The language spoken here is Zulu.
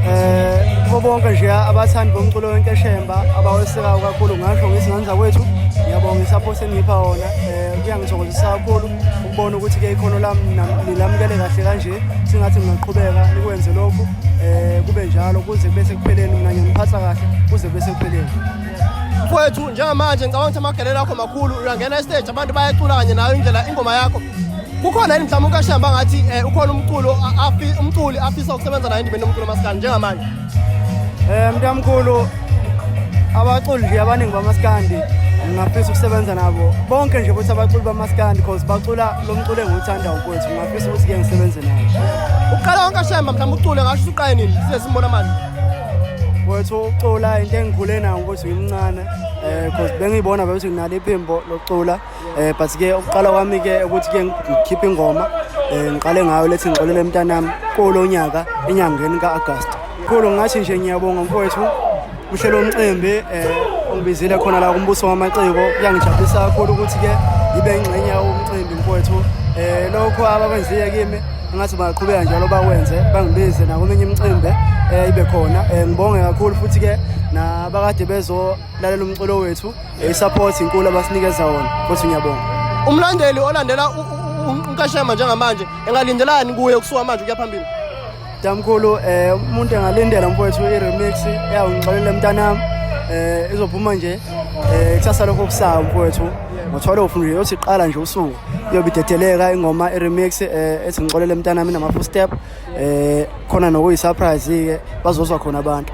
eh kubo bonke nje abathandi bomculo wenkeshemba abawesekayo kakhulu ngasho ngithi nganza kwethu ngiyabonga isapho senipha wona eh kuyangithokozisa kakhulu ukubona ukuthi ke ikhono lami nilamukele kahle kanje singathi ngingaqhubeka nikwenze lokhu eh kube njalo kuze kube sekupheleni mina ngiyangiphatha kahle kuze kube sekupheleni mfowethu njengamanje ngicabanga ukuthi amagelelo akho makhulu uyangena estage abantu bayacula kanye nayo indlela ingoma yakho kukhona yini mhlawumbe ukashamba angathi um ukhona umculo umculi afisa ukusebenza nayo endimeni yomculo masikandi njengamanje um mntamkhulu abaculi nje abaningi bamasikandi ngingafisa ukusebenza nabo bonke nje ukuthi abaculi bamasikandi cause bacula lo mculo engiwuthanda ukwethu ngingafisa ukuthi ke ngisebenze nabo uqala wonke ashemba mhlawumbe ucule ngasho ukuthi uqaye nini size simbona manje wethu ucula into engikhule nayo ukuthi ngimncane um cause bengiyibona bekuthi nginalo iphimbo lokucula eh but ke ukuqala kwami ke ukuthi ke ngikhiphe ingoma eh ngiqale ngayo lethi ngixolele mntanami kolonyaka enyangeni kaAugust kulo ngathi nje ngiyabonga mfowethu uhlelo omcimbi eh ongibizile khona la kumbuso wamaciko kuyangijabulisa kakhulu ukuthi ke ibe ingxenye yomcimbi mfowethu eh lokho abakwenziye kimi ngathi baqhubeka njalo bakwenze bangibize nakominye imicimbi eh ibe khona eh ngibonge kakhulu futhi ke nabakade bezolalela umculo wethu I-support inkulu abasinikeza wona futhi ngiyabonga. Umlandeli olandela uNkashema njengamanje engalindelani kuye kusuka manje ukuya phambili? Damkhulu eh umuntu engalindela mfowethu i-remix eyawungixolela mntanami eh izophuma nje eh kusasa lokho kusayo mfowethu ngothwalo ufundile yothi iqala nje usuku iyobe idedeleka ingoma i-remix eh ethi ngixolele mntanami nama-footstep eh khona nokuyi-surprise-ke bazozwa khona abantu